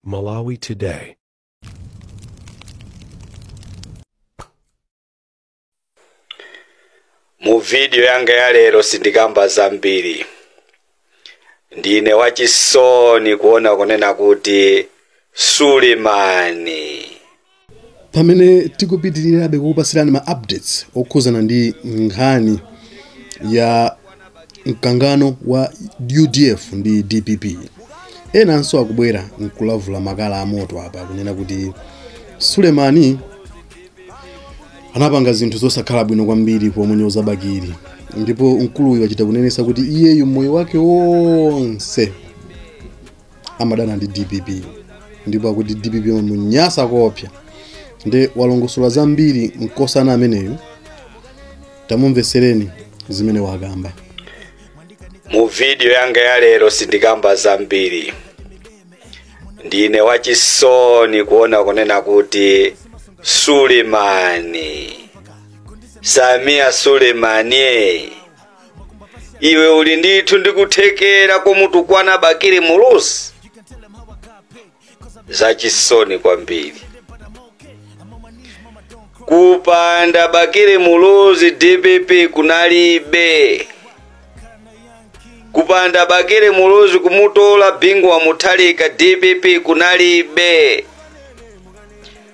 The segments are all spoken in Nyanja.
Malawi Today. mu vidiyo yanga ya lero sindikamba zambiri ndine wachisoni kuona kunena kuti sulemani pamene tikupitirirabe kukupatsirani ma updates okhuzana ndi nkhani ya mkangano wa udf ndi dpp enanso akubwera nkulavula makala amoto apa kunena kuti sulemani anapanga zinthu zosakhala bwino kwambiri pomunyoza bakili ndipo mkuluyu wachita kunenesa kuti iyeyu moyo wake wonse amadana ndi dpp ndipo akuti dpp imamunyasa koopsa nde walongosola zambiri mkosana ameneyu tamumvesereni zimene wakamba mu vidiyo yanga ya lero sindikamba zambiri ndine wachisoni kuona kunena kuti sulemani sameer sulemani iwe uli ndithu ndi kuthekera komutukwana bakili muluzi zachisoni kwambiri kupanda bakili muluzi dpp kunalibe kupanda bakili muluzi kumutola bingu wa muthalika dpp kunalibe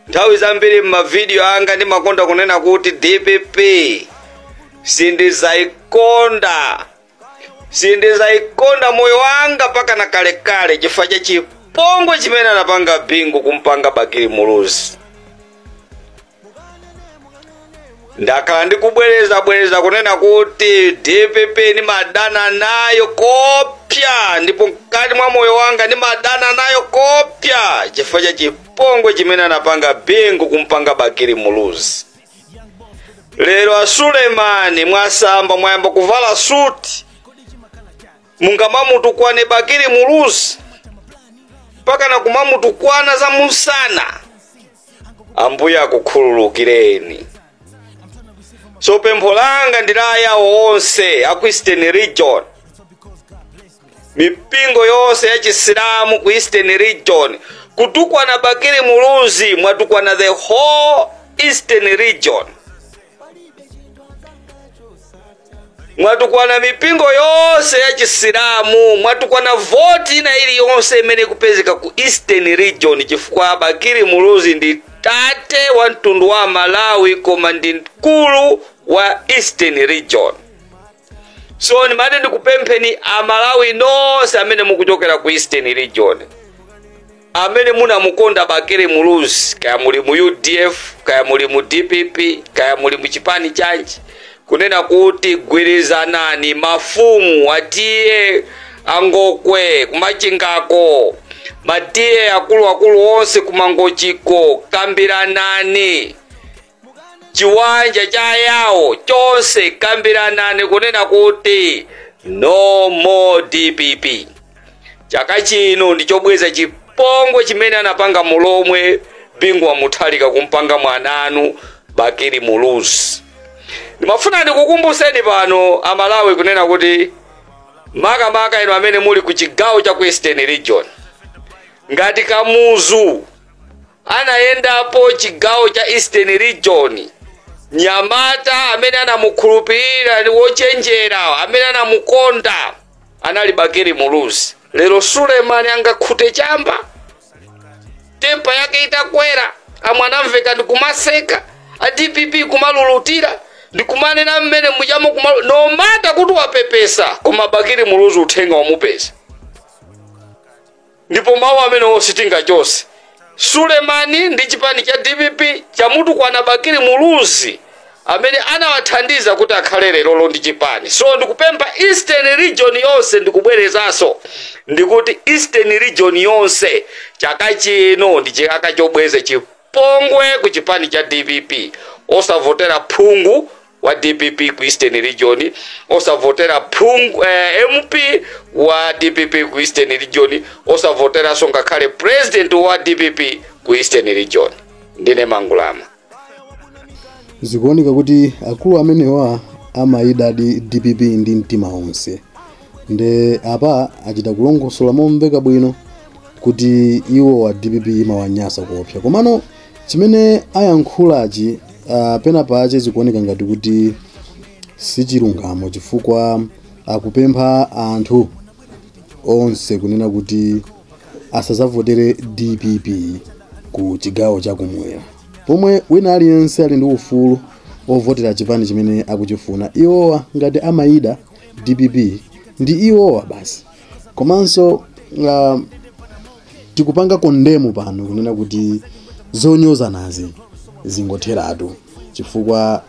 Nthawi zambiri m'mavidiyo anga ndimakonda kunena kuti dpp sindizaikonda, sindizaikonda moyo wanga mpaka na kalekale chifukwa cha chipongwe chimene anapanga Bingu kumpanga Bakili Muluzi. ndakhala ndikubwereza bwereza kunena kuti dpp ndimadana nayo koopsa ndipo mkati mwa moyo wanga ndimadana nayo koopsa chifukwa cha chipongwe chipongwe chimene anapanga bingu kumpanga bakili muluzi lero a sulemani mwasamba mwayamba kuvala suti mungamamutukwane bakili muluzi mpaka na kumamutukwana za musana ambuye akukhululukireni so pempho langa ndi la ayawo onse aku Eastern region mipingo yonse ya chisilamu ku eastern region kutukwana bakili muluzi mwatukwana the whole eastern region mwatukwana mipingo yonse ya chisilamu mwatukwana voti ina iliyonse imene ikupezeka ku eastern region chifukwa bakili muluzi ndi tate wa mtundu wa malawi koma ndi mkulu wa eastern region so ndimati ndikupempheni amalawi nonse amene mukuchokera ku eastern region amene munamukonda bakili muluzi kaya muli mu udf kaya muli mu dpp kaya muli mu chipani chanji kunena kuti gwirizanani mafumu atiye angokwe kumachingako matiye akuluakulu onse kumangochiko kambiranani chiwanja cha yawo chonse kambiranani kunena kuti no more dpp chaka chino ndichobweza chipongwe chimene anapanga mulomwe bingu wa mutharika kumpanga mwananu bakili muluzi ndimafuna ndikukumbuseni pano amalawi kunena kuti makamaka inu amene muli ku chigawo cha ku eastern region ngati kamuzu Anayendapo chigawo cha Eastern Region. Mnyamata amene anamukhulupirira ndi wochenjera amene anamukonda anali Bakili Muluzi. Lero Sulemani angakhute chamba tempa yake itakwera, amwana amveka ndi kumaseka a DPP kumalulutira ndi kumanena mmene mujamo kumalu no matter kuti wapepesa koma Bakili Muluzi uthenga wamupeza. ndipo mawu amenewo sitingachotse sulemani ndi chipani cha dpp chamutukwana bakili muluzi amene anawathandiza kuti akhale lerolo ndi chipani so ndikupempha eastern region yonse ndikubwerezanso ndikuti eastern region yonse chaka chino ndi chaka chobweza chipongwe ku chipani cha dpp osavotera phungu wa dpp ku eastern region osavotera phungu eh, mp wa dpp ku eastern region osavoteranso ngakhale president wa dpp ku eastern region ndine mangulama zikuoneka kuti akulu amenewa amaidadi dpp ndi mtima wonse nde apa achita kulongosola momveka bwino kuti iwo wa dpp imawanyasa kuopsa komano Chimene ayankhulachi ah, pena pache zikuoneka ngati kuti sichilungamo chifukwa akupempha anthu onse kunena kuti asazavotere dpp ku chigawo chakumwera pomwe wina aliyense ali ndi ufulu ovotera chipani chimene akuchifuna iwowa ngati amaida dpp ndi iwowa basi komanso ah, tikupanga kondemu pano kunena kuti zonyozanazi zingotheratu chifukwa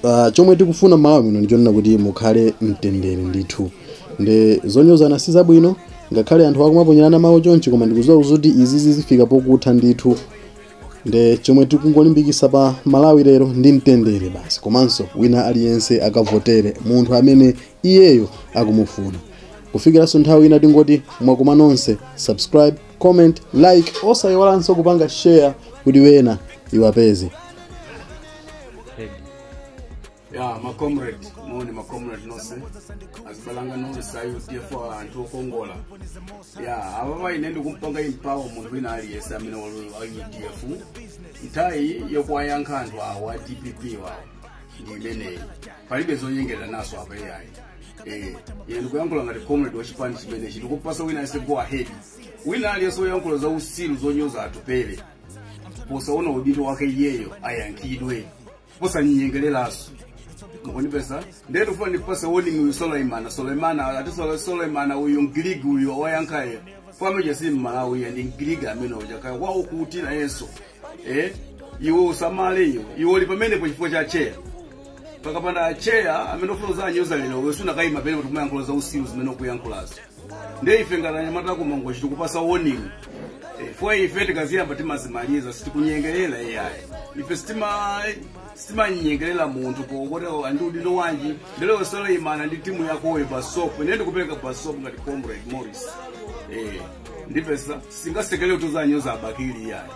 uh, chomwe tikufuna malawi muno ndichonena kuti mukhale mtendere ndithu nde zonyozana si zabwino ngakhale anthu akumaponyerana mawu chonchi koma ndikuziwa kuti izi zizifika pokutha ndithu nde chomwe tikungolimbikisa pa malawi lero ndi mtendere basi komanso wina aliyense akavotere munthu amene iyeyo akumufuna kufikiranso nthawi ina tingoti mwakoma nonse subscribe comment like osayiwalanso kupanga share kuti wena iwapeze ya macomrade moni macomrade nonse azibalanga nonse a udf anthu okongola ya apapa ine ndikumpanga empower munthu wina aliyense amene wa udf nthawi yokuwayankha anthu awa dpp wawo ndi imeneyi palibe zonyengeranaso apa iyayi Eh, ine ndikuyankhula ngati comrade wa chipani chimenechi ndikupasa wina aliyense go ahead wina aliyense oyankhula za usilu zonyoza atupele posaona udindo wake iyeyo ayankhidwe posanyengereranso mukunipesa ndiye ndifuna ndipase warning uyu suleiman suleiman ati Sule- suleiman uyu mgiriki uyu oyankhayo famicha si mmalawi ya ndi mgiriki amene uchakaya waukutira yeso eh? iwe usamale iwe iwe uli pamenepo chifukwa cha tcheya pakapanda tcheya amene ufuna uzanyoza lero iwe sunakayima pene kuti kumayankhula za usiru zimene ukuyankhulazo ndiye ife ngati anyamata aku mangochi tikupasa warning Eh, fwa ife tikaziyamba timazimaliza sitikunyengerera iyayi ife sitima sitimanyengerera munthu pokuti andi udindo wanji nde iwe suleiman ndi timu yakoyo basopo ine ndikupereka basopo ngati comrade morris Eh, ndipesa singasekele kuti uzanyoza abakili iyayi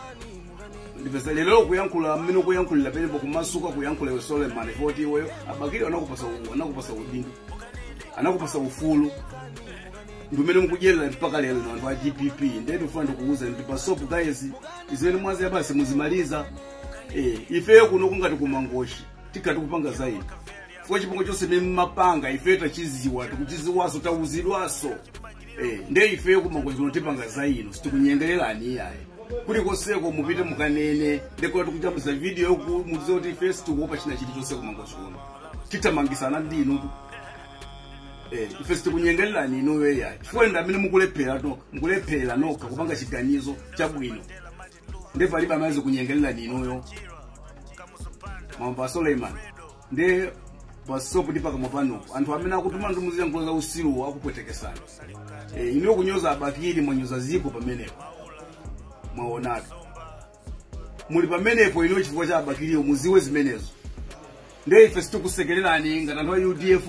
ndipeza lero kuyankhula mmene ukuyankhulira pene pokumasuka kuyankhula iwe suleiman poti iweyo abakili anakupasa u- anakupasa udindo anakupasa ufulu ndimene mukudyerera mpaka lero na anthu a dpp ndiye ndikufuna ndikuuza ndi basopo guys zimene mwaziyambazi muzimaliza eh, ifeyo kuno kungati kumangochi tikati kupanga zaidi fwa chipongwe chonse mmene mmapanga ifeyo tachiziwa tikuchiziwaso tauzidwaso Eh, nde ifeyo kumangochi kuno tipanga zaidi sitikunyengererani iyayi kuli konseko mupite mukanene ndekuti tikujambisa video yokuti muziwe kuti ife sitikuopa china chilichonse kumangochi kuno tithamangisana ndi inu Eh, ife sitikunyengererani inuyo iyayi chifukwa ndi amene mu- mukulephera nokha kupanga chiganizo chabwino nde palibe amene azikunyengererani inuyo mwamva suleiman nde basopo ndi pakamwa panupo anthu amene akutumani muziyankhula za usiru akupwetekesani eh, inuyo kunyoza abakili mwanyoza ziko pamenepo mwaonatu muli pamenepo inuyo chifukwa cha abakiliyo muziwe zimenezo ndiye ife sitikusekererani ngati anthu a udf